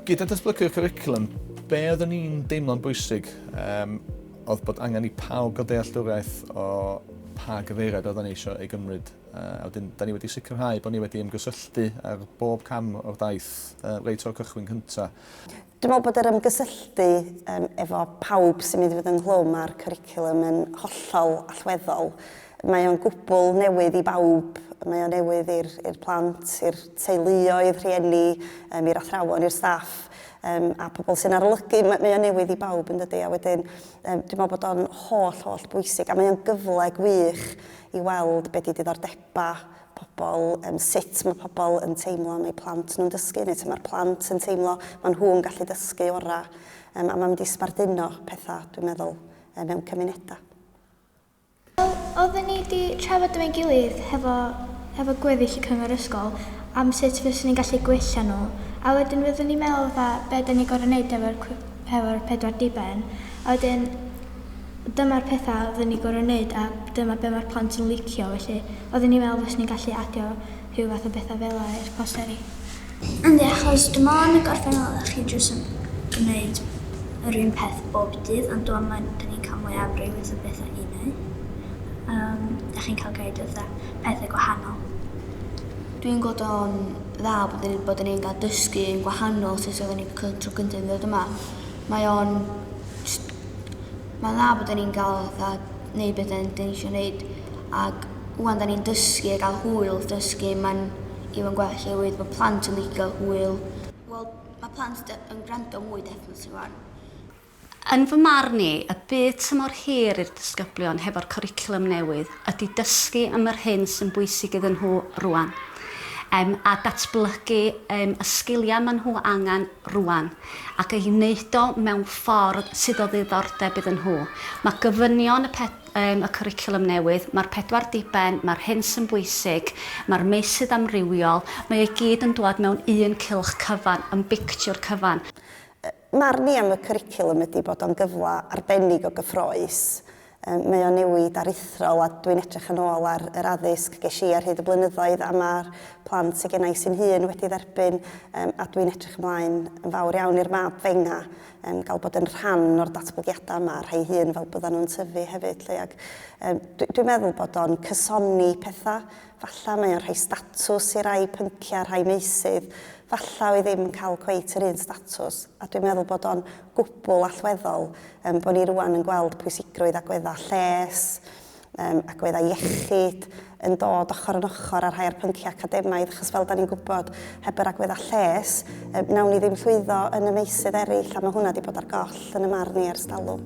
Gyda datblygu'r curriculum, be oeddwn ni'n deimlo'n bwysig um, oedd bod angen i pawb gael dealltwriaeth o pa gyfeiriad oeddwn ni eisiau ei gymryd. Uh, a wedyn, da ni wedi sicrhau bod ni wedi ymgysylltu ar bob cam o'r daith uh, reit o'r cychwyn cyntaf. Dwi'n meddwl bod yr ymgysylltu um, efo pawb sy'n mynd i fod ynghlwm â'r cwricwlwm yn hollol allweddol. Mae o'n gwbl newydd i bawb, mae o'n newydd i'r plant, i'r teuluoedd, rhieni, um, i'r athrawon, i'r staff um, a pobl sy'n arolygu, mae, mae o newydd i bawb yn dydy, a wedyn um, dwi'n meddwl bod o'n holl, holl bwysig, a mae o'n gyfle gwych i weld beth i diddordebau pobl, yym sut mae pobl yn teimlo am eu plant nhw'n dysgu neu sut mae'r plant yn teimlo maen nhw'n gallu dysgu orau yym a mae'n mynd i sbarduno pethau dwi'n meddwl yy mewn cymunedau. Wel, oedden ni wedi trafod efo'n gilydd hefo hefo gweddill y cyngor ysgol am sut fyswn ni'n gallu gwella nhw a wedyn fyddwn ni'n meddwl fatha be' 'dan ni'n gorfod neud efo'r cw- efo'r pedwar diben, a wedyn dyma'r petha oedden ni gor'o' neud a dyma be' ma'r plant yn licio felly oedden ni'n me'wl fyswn ni'n gallu adio rhyw fath o betha fela i'r posteri. Yndi achos dwi me'wl yn y gorffennol dach chi jyst yn gneud yr un peth bob dydd ond wan ma' 'da ni'n ca'l mwy o amrywieth o betha i neud, yym 'dach chi'n ca'l gneud fatha pethe gwahanol. Dwi'n gweld o'n dda bod ni bod ni'n cael dysgu yn gwahanol sut oedden ni cy- tro cynta yn ddod yma. Mae o'n jst mae'n dda bod ni'n cael fatha neud be' 'den ni isio neud ag ŵan 'dan ni'n dysgu a ga'l hwyl wrth dysgu ma'n even gwell oherwydd ma' plant yn licio hwyl. Wel ma' plant de- yn grando mwy definitely 'wan. Yn fy marn i, y byd tymor hir i'r disgyblion hefo'r cwricwlwm newydd ydi dysgu am yr hyn sy'n bwysig iddyn nhw rŵan, em, a datblygu, em, y sgiliau maen nhw angen rŵan, ac ei wneud o mewn ffordd sydd o ddiddordeb iddyn nhw. Mae gofynion y pe-, em, y cwricwlwm newydd, mae'r pedwar diben, mae'r hyn sy'n bwysig, mae'r meysydd amrywiol, mae o i gyd yn dwad mewn un cylch cyfan, yn bictiwr cyfan. Marn i am y cwricwlwm ydy bod o'n gyfle arbennig o gyffrous. Mae o'n newid aruthrol a dwi'n edrych yn ôl ar yr addysg ges i ar hyd y blynyddoedd a mae'r plant sy gennai sy'n hŷn wedi dderbyn a dwi'n edrych ymlaen yn fawr iawn i'r mab fenga gael bod yn rhan o'r datblygiadau yma a'r rhai hŷn fel byddan nhw'n tyfu hefyd 'lly ac dwi'n meddwl bod o'n cysoni pethau Falla mae o'n rhoi statws i rai pynciau, rhai meysydd, falla oedd ddim yn cael cweit yr un statws, a dwi'n meddwl bod o'n gwbl allweddol yym bod ni rŵan yn gweld pwysigrwydd agweddau lles, yym agweddau iechyd, yn dod ochr yn ochr â rhai o'r pynciau academaidd, achos fel 'dan ni'n gwybod, heb yr agweddau lles, yy wnawn ni ddim llwyddo yn y meysydd eraill, a mae hwnna 'di bod ar goll, yn y marn i, ers talwm.